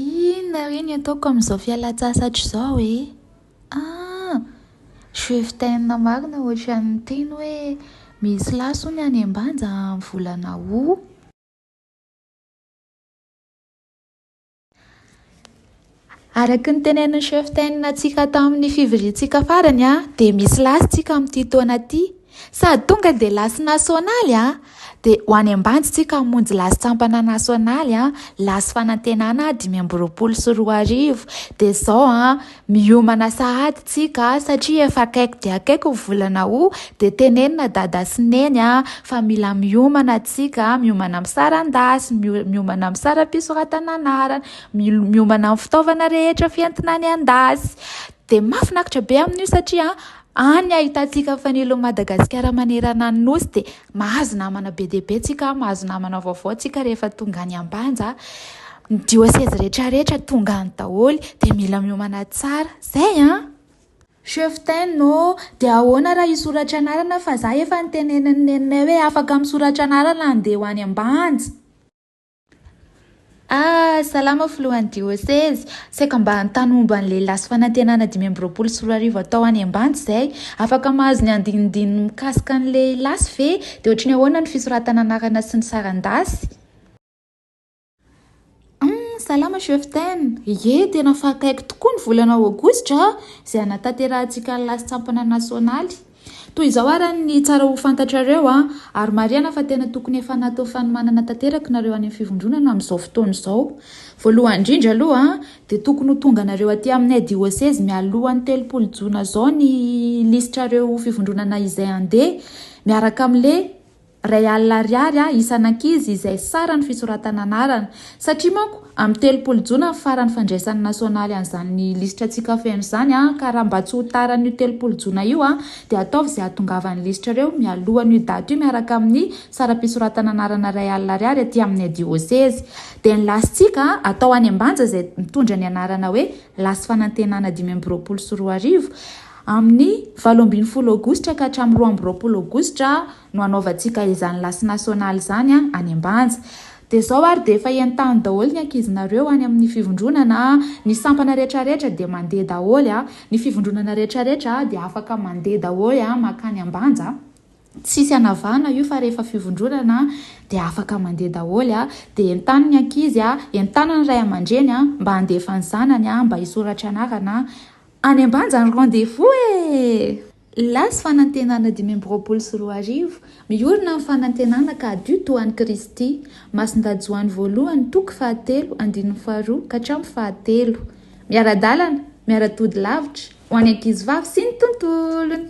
Inona re ny ataoko amin'izao fialan-tsasatra izao e? Ah! Je vtain marina ohatran'ny niteny hoe misy lahy sony any ambanja amin'ny volana aout. Araka ny tenenin'i Cheftain antsika tamin'ny fivoriantsika farany dia misy lasy tsika amin'ity taona ity. Sady tonga dia lasy nasionaly a! Dia ho any Ambanja tsika hamonjy lasy sampana nasionaly a! Lasy fanantenana dimy amby roapolo sy roa arivo. Dia izao a! Miomana sahady tsika satria efa akaiky dia akaiky ny volana août dia tenenina dada sy neny a! Fa mila miomana tsika, miomana amin'ny saran-dasy, miomana amin'ny saram-pisoratana anarana. miomana amin'ny fitaovana rehetra fientina any an-dasy. Dia mahafinaritra be amin'io satria any ahitantsika fanilo Madagasikara manerana ny nosy dia mahazo namana be dia be tsika, mahazo namana vaovao tsika rehefa tonga any Ambanja. Ny dioseze rehetra rehetra tonga any daholo dia mila miomana tsara. Zay an! Cheftaine ô, dia ahoana raha hisoratra anarana fa za efa nitenenin'ny neninay hoe afaka misoratra anarana handeha ho any Ambanja? Ah, salama filohan'ny diôsezy, saika mba hanontany momba an'ilay lasy fanantenana dimy amby roapolo sy roa arivo atao any Ambanja izay, afaka mahazo ny andinindininy mikasika an'ilay lasy ve? Dia ohatry ny ahoana ny fisoratana anarana sy ny saran-dasy? Humm, salama cheftaine, ie tena efa akaiky tokoa ny volana aogositra izay hanatanterahantsika ny lasy sampana nasionaly. Toy izao ara ny tsara ho fantatrareo an, ary marihana fa tena tokony efa natao fanomanana tanteraka nareo any am fivondronana am zao fotoana izao. Voalohany indrindra aloha an, dia tokony ho tonga nareo aty aminay diosezy mialohan ny telopolo jona zao ny lisitrareo fivondronana izay handeha miaraka am le Iray alina ariary isan'ankizy izay saran'ny fisoratana anarana. Satria manko, amin'ny telopolo jona ny faran'ny fandraisan'ny nasionaly an'izany lisitra Tsika Feno izany ka raha mba tsy ho tara an'io telopolo jona io dia ataovy izay hahatongavan'ny lisitrareo mialohan'io daty io miaraka amin'ny saram-pisoratana anarana iray alina ariary aty amin'ny diosezy. Dia ny lasintsika atao any Ambanja izay mitondra ny anarana hoe Lasy Fanantenana dimy amby roapolo sy roa arivo. Amin'ny valo ambin'ny folo aogositra ka hatramin'ny roa amby roapolo aogositra no hanaovantsika izany lasy nasionaly izany any Ambanja. Dia izao ary dia efa entano daholo ny ankizinareo any amin'ny fivondronana, ny sampana rehetrarehetra dia mandeha daholo, ny fivondronana rehetrarehetra dia afaka mandeha daholo mankany Ambanja, tsisy anavahana io fa rehefa fivondronana dia afaka mandeha daholo, dia entano ny ankizy, entano ny ray aman-dreny mba handefa ny zanany mba hisoratra anarana Any Ambanja ny rendez-vous e! Las Fanantenana dimy amby roapolo sy roa arivo, Miorina ny fanantenana ka hadio toa an'i Kristy. Masindahy Joany Voalohany, toko fahatelo, andininy faharoa ka hatramin'ny fahatelo. Miara-dalana, miara-tody lavitra, ho an'ny ankizivavy sy ny tontolony.